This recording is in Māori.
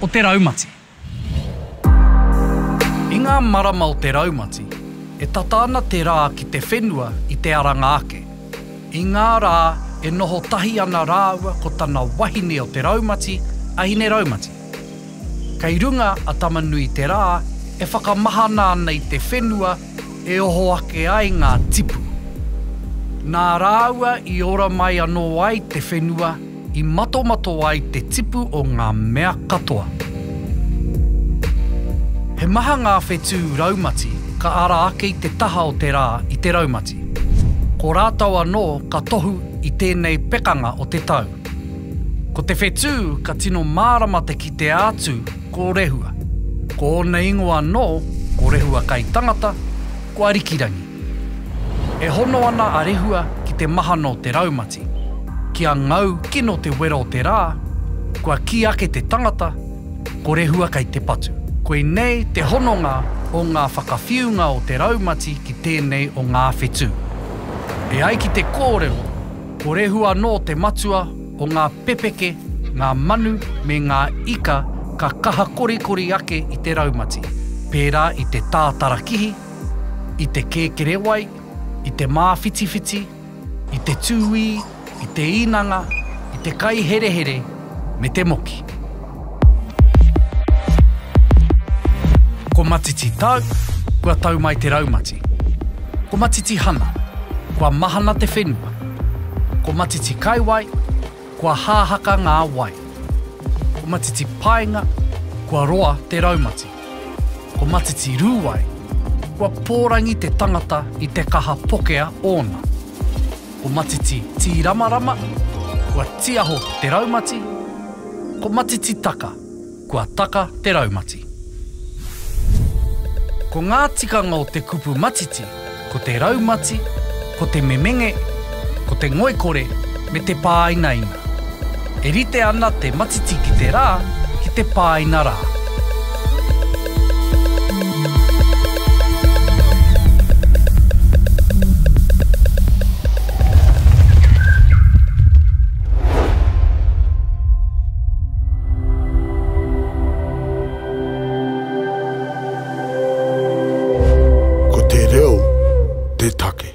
o te raumati. I ngā marama o te raumati, e tata ana te rā ki te whenua i te aranga ake. I ngā rā e noho tahi ana rāua ko tana wahine o te raumati a Hineraumati. Kei runga a Tamanui te rā e whakamahana ana i te whenua e oho ake ai ngā tipu. Nā rāua i ora mai anō ai te whenua, I matomato ai te tipu o ngā mea katoa. He maha ngā whetū raumati ka ara ake i te taha o te rā i te raumati. Ko rātou anō ka tohu i tēnei pekanga o te tau. Ko te whetū ka tino mārama te kitea atu ko Rehua. Ko ōna ingoa anō ko Rehua kai tangata, ko Arikirangi. E hono ana a Rehua ki te mahano o te raumati. Ki a Ngau kino te wero o te rā, kua kī ake te tangata, Ko Rehua kei te patu. Koinei te hononga o ngā whakawhiunga o te raumati ki tēnei o ngā whetū. E ai ki te kōrero, ko Rehua anō te matua o ngā pepeke, ngā manu me ngā ika ka kaha korikori ake i te raumati, pērā i te tātarakihi, i te kēkerewai, i te māwhitiwhiti, i te tūī, i te īnanga, i te kaiherehere me te moki. Ko matiti tau, kua tau mai te raumati. Ko matiti hana, kua mahana te whenua. Ko matiti kaiwai, Kua hāhaka ngā wai. Ko Matiti Paenga, kua roa te raumati. Ko Matiti Rūwai, kua pōrangi te tangata i te kaha pokea ōna. Ko Matiti Tīramarama, kua tiaho te raumati. Ko Matiti Taka. kua taka te raumati. Ko ngā tikanga o te kupu matiti ko te raumati, ko te memenge, ko te ngoikore me te pāinaina. E rite ana te matiti ki te rā ki te pāina rā. Ko te reo te take.